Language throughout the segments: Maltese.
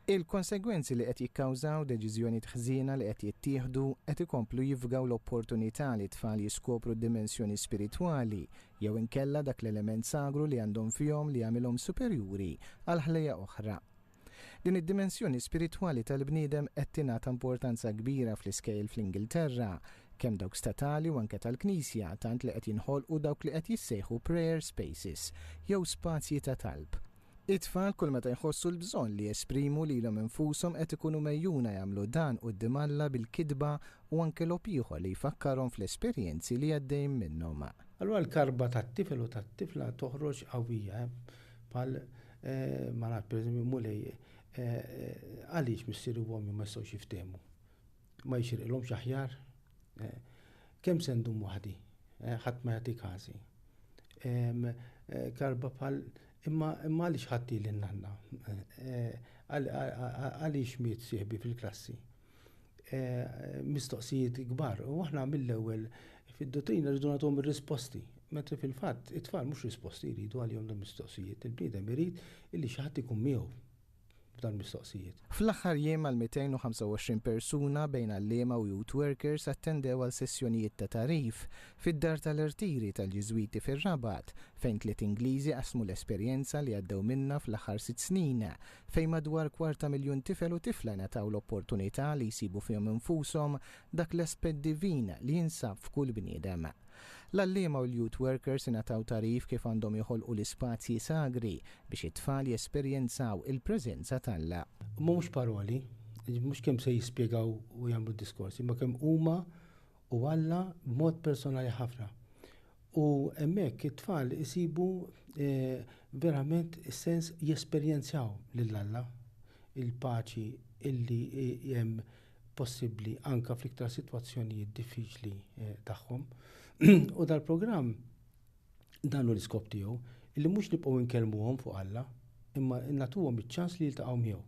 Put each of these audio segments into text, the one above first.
Il-konsegwenzi li qed jikkawżaw deċiżjonijiet ħżiena li qed jittieħdu qed ikomplu jifgaw l-opportunità li t-tfal jiskopru d-dimensjoni spiritwali jew inkella dak l-element sagru li għandhom fihom li jagħmilhom superjuri għal ħlejjaq oħra. Din id-dimensjoni spiritwali tal-bniedem qed tingħata importanza kbira fl-iskejjel fl-Ingilterra, kemm dawk statali u anke tal-Knisja, tant li qed jinħolqu dawk li qed jissejħu prayer spaces, jew spazji ta' talb. It-tfal kull meta jħossu l-bżonn li jesprimu lilhom infushom qed ikunu megħjuna jagħmlu dan quddiem Alla bil-kitba u anke logħob ieħor li jfakkarhom fl-esperjenzi li għaddejjin minnhom. Allura l-karba tat-tifel u tat-tifla toħroġ qawwija bħal ma ngħad pereżempju Mulej għaliex missieri u ommi ma jistgħux jiftehmu? Ma jixirqilhomx aħjar? Kemm se ndum waħdi? Ħadd ma jagħti każi. Karba bħal Imma għaliex ħadti lil nanna? Għaliex miet sieħbi fil-klassi? Mistoqsijiet kbar u aħna mill-ewwel fid-duttrina rridu nagħtuhom ir-risposti. Mentri fil-fatt it-tfal mhux risposti jridu għalihom dawn il-mistoqsijiet, il-bniedem irid illi xi ħadd ikun miegħu. f'dan mistoqsijiet. Fl-aħħar jiem għal 225 persuna bejn għalliema u youth workers attendew għal sessjonijiet ta' tagħrif fid-Dar tal-Irtiri tal-Ġiżwiti fir-Rabat fejn tliet Ingliżi qasmu l-esperjenza li għaddew minnha fl-aħħar sitt snin fejn madwar kwarta miljun tifel u tifla ngħataw l-opportunità li jsibu fihom infushom dak l-aspett divin li jinsab f'kull bniedem. L-għalliema u l-youth workers ingħataw tagħrif kif għandhom joħolqu l-ispazji sagri biex it-tfal jesperjenzaw il-preżenza t'Alla. Mhux paroli, mhux kemm se jispjegaw u jagħmlu diskorsi, imma kemm huma u Alla b'mod personali ħafna. U hemmhekk it-tfal isibu verament is-sens jesperjenzjaw lil Alla, il-paċi illi hemm possibbli anke fl-iktar sitwazzjonijiet diffiċli tagħhom. U dal-programm dan hu l-iskop tiegħu li mhux nibqgħu nkellmuhom fuq Alla, imma nagħtuhom iċ-ċans li jiltaqgħu miegħu.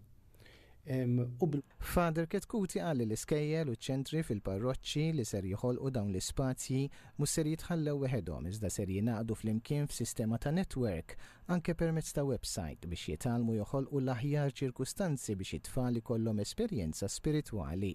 Father Chetcuti qal li l-iskejjel u ċ-ċentri fil-parroċċi li ser joħolqu dawn l-ispazji mhux ser jitħallew weħedhom iżda ser jingħaqdu flimkien f'sistema ta' network anke permezz ta' websajt, biex jitgħallmu joħolqu l-aħjar ċirkustanzi biex it-tfal ikollhom esperjenza spiritwali.